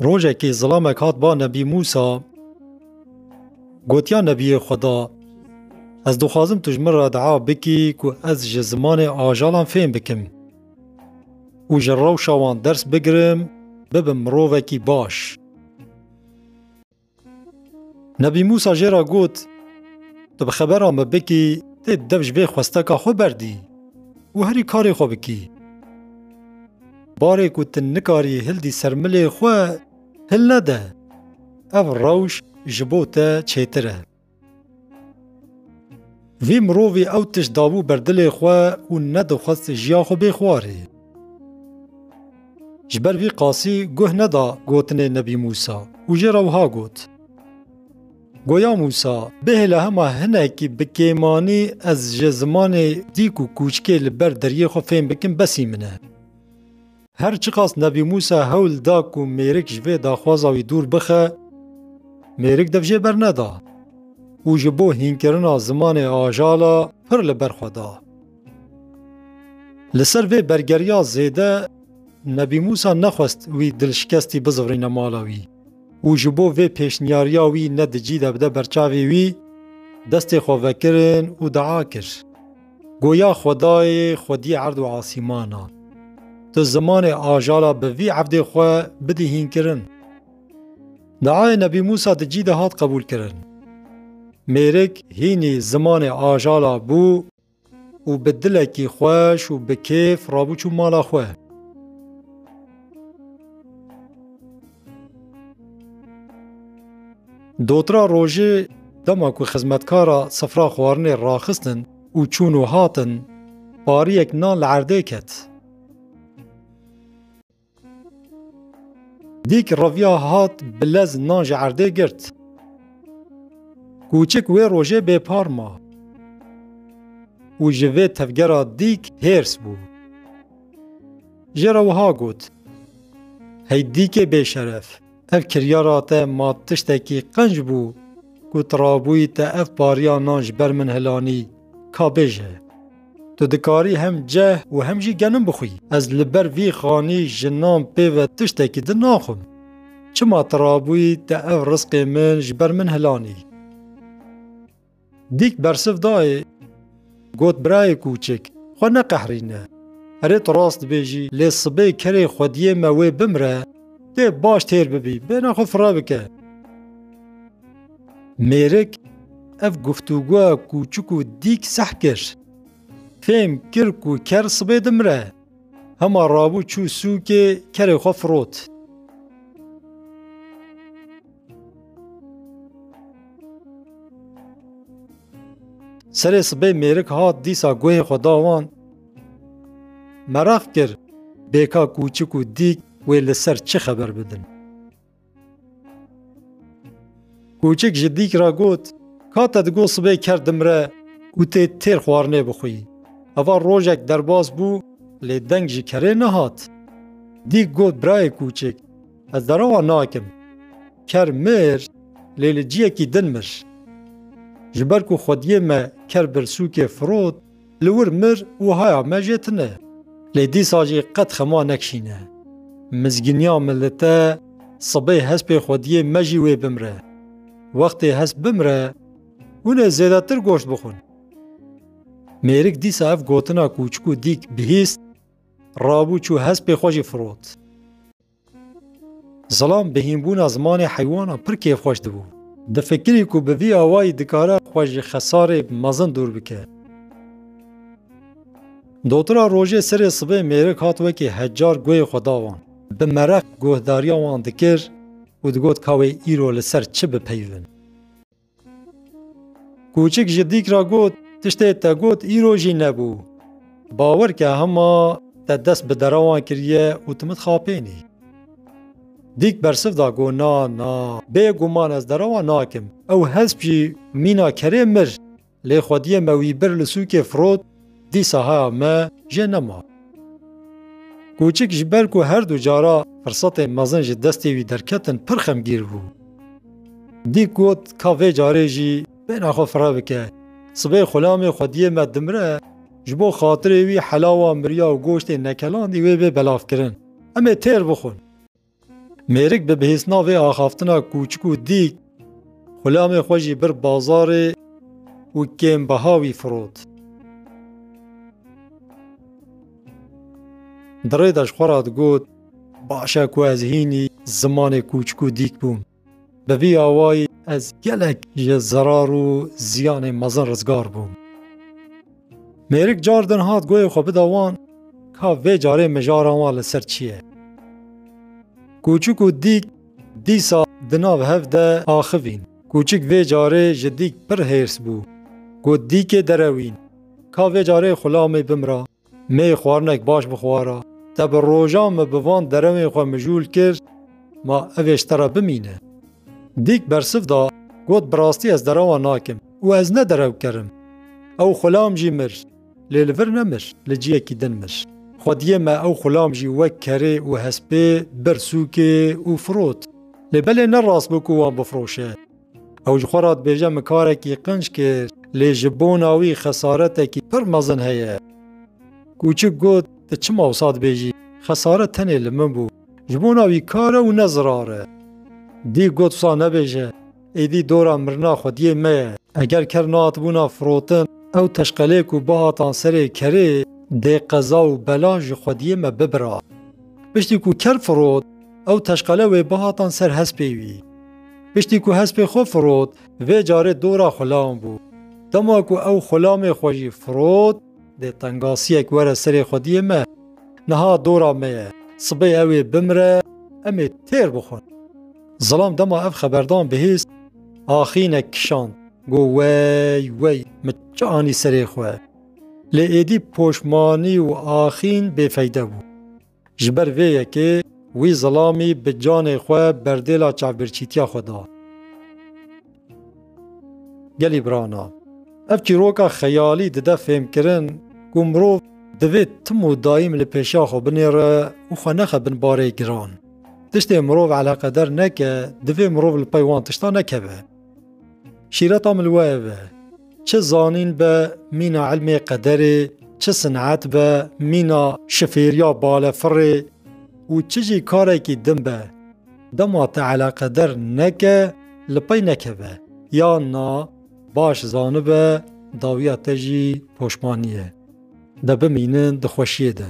Rojekê zilamek hat ba Nebî Mûsa gotiya Nebiyê Xweda Ez dixwazim tu ji min re dua bikî ku ez ji zimanê ajalan fêm bikim û ji rewşa wan ders bigirim bibim mirovekî baş. Nebî Mûsa jê re got, Tu bi xebera me bikî dê di dev ji vê xwesteka xwe berdî û herî karê xwe bikî. Barê ku tu nikarî hildî ser milê xwe, hilnede. Ev rewş ji bo te çêtir e. Vî mirovî ew tişt dabû ber dilê xwe û nedixwest jiya xwe bê xwarê. Ji ber vî qasî guh neda gotinê Nebî Mûsa û jê re wiha got, Goya Mûsa, bihêle hema hinekî bi kêmanî ez ji zimanê dîk û kûçikê li ber deriyê xwe fêm bikim besî min e. Her çiqas Nebî Mûsa hewl da ku mêrik ji vê daxwaza wî dûr bixe, mêrik dev jê berneda û ji bo hînkirina zimanê ajala pir li ber xwe da. Li ser vê bergeriya zêde Nebî Mûsa nexwest wî dilşikestî bizivrinne mala wî û ji bo vê pêşniyariya wî ne di cî de bide berçavê wî, destê xwe vekirin û dua kir. Goya xwedayê xwedî erd û asîman a. Tu zimanê ajara bi vî evdê xwe bidî hînkirin. Diayê Nebî Mûsa di cî de hat qebûlkirin. Mêrik hînî zimanê ajara bû û bi dilekî xweş û bi kêf rabû çû mala xwe. Dotra rojê dema ku xizmetkara sifra xwarinê raxistin û çûn û hatin, pariyek nan li erdê ket. Dîk reviya hat bi lez nan ji erdê girt. Kûçik wê rojê bêpar ma û ji vê tevgera dîk hêrs bû. Jê re wiha got, Hey dîkê bêşeref, ev kiryara te ma tiştekî qenc bû ku tu rabûyî te ev pariya nan ji ber min hilanî, ka bêje, Tu dikarî hem ceh û hem jî genim bixwî. Ez li ber vî xanî ji nan pê ve tiştekî din naxwim. Çima tu rabûyî te ev rizqê min ji ber min hilanî? Dîk bersiv dayê got birayê kûçik xwe neqehrîne. Erê tu rast dibêjî lê sibê kerê xwediyê me wê bimre dê baş têr bibî bêhna xwe fire bike. Mêrik ev guftûgoya kûçik û dîk seh kir. Fêm kir ku ker sibê dimre. Hema rabû çû sûkê kerê xwe firot. Serê sibê mêrik hat dîsa guhê xwe da wan. Meraq kir bêka kûçik û dîk wê li ser çi xeber bidin. Kûçik ji dîk re got, Ka te digo sibê ker dimre û tê têr xwarinê bixwî. Eva rojek derbas bû lê deng ji kerê nehat. Dîk got, Birayê kûçik, Ez derowa nakim. Ker mir, lê li ciyekî din mir. Ji ber ku xwediyê me ker birsûkê firot, li wir mir û haya me jê tune. Lê dîsa jî qet xema nekişîne. Mizgîniya min li te, sibê hespê xwediyê me jî wê bimre. Wextê hesp bimre, hûn ê zêdetir goşt bixwin. Mêrik dîsa ev gotina kûçik û dîk bihîst, rabû çû hespê xwe jî firot. Zilam bi hînbûna zimanê heywanan pir kêfxweş dibû. Difikirî ku bi vî awayî dikare xwe ji xesarê mezin dûr bike. Dotira rojê serê sibê mêrik hat wekî hecar guhê xwe da wan. Bi mereq guhdariya wan dikir û digot ka wê îro li ser çi bipeyivin. Kûçik ji dîk re got, Tiştê te got îro jî nebû. Bawer ke hema te dest bi derewan kiriye û tu min dixapênî. Dîk bersiv da got, Na, na, bêguman ez derewan nakim. Ew hesp jî mîna kerê mir, lê xwediyê me wî bir li sûkê firot, Dîsa heya me jê nema. Kûçik ji ber ku her du cara firsatên mezin ji destê wî derketin pir xemgîr bû. Dîk got ka vê carê jî bêhna xwe fireh bike. Sibê xulamê xwediyê me dimire, ji bo xatirê wî helawa mirya û goştên nekelandî wê bê belavkirin. Em ê têr bixwin. Mêrik bi bihêsna vê axaftina kûçik û dîk xulamê xwe jî bir bazarê û kêmbeha wî firot. Di rê de ji xwe re digot, Baş e ku ez hînî zimanê kûçik û dîk bûm. Bi vî awayî ez gelek ji zerar û ziyanê mezin rizgar bûm. Mêrik car din hat goyê xwe bida wan ka vê carê mijara wan li ser çi ye. Kûçik û dîk dîsa di nav hev de axivîn. Kûçik vê carê ji dîk pir hêrs bû. Got dîkê derewîn, ka vê carê xulamê bimra. Me xwarinek baş bi xwara. Te bi rojan min bi van derewên xwe mijûl kir, ma ev ê ji te re bimîne. Dîk bersiv da, got bi rastî ez derewan nakim û ez ne derewker im. Ew xulam jî mir, lê li vir nemir, li ciyekî din mir. Xwediyê me ew xulam jî wek kerê û hespê bir sûkê û firot. Lê belê ne rast bû ku wan bifiroşe. Ew ji xwe re dibêje min karekî qinc kir, lê ji bona wî xesaretekî pir mezin heye. Kûçik got, Ti çima wisa dibêjî? Xesaret tenê li min bû. Ji bona wî kar e û ne zirar e. Dîk got, Wisa nebêje, êdî dora mirina xwediyê me ye. Eger ker nehatibûna firotin, ew teşqelê ku bihatan serê kerê dê qeza û bela ji xwediyê me bibira. Piştî ku ker firot, Ew teşqale wê bihatan ser hespê wî. Piştî ku hespê xwe firot, vê carê dora xulam bû. Dema ku ew xulamê xwe jî firot, dê tengasiyek were serê xwediyê me. Niha dora me ye, sibê ew ê bimire, em ê têr bixwin. Zilam dema ev xeberdan bihîst, axînek kişand, got wey, wey, min çi anî serê xwe. Lê êdî poşmanî û axîn bêfeyde bû. Ji ber vê yekê wî zilamî bi canê xwe berdêla çavbirçîtiya xwe da. Gelî birana, ev çîroka xeyalî dide fêmkirin ku mirov divê tim û daîm li pêşiya xwe binêre û xwe nexe bin barê giran. Tiştê mirov eleqeder neke, divê mirov li pey wan tiştan nekeve. Şîreta min li we ev e. Çi zanîn be, mîna ilmê qederê, çi sinet be, mîna şifêriya balefirê û çi jî karekî din be, dema te eleqeder neke, li pey nekeve, ya na baş zanibe dawiya te jî poşmanî ye. De bimînin di xweşiyê de.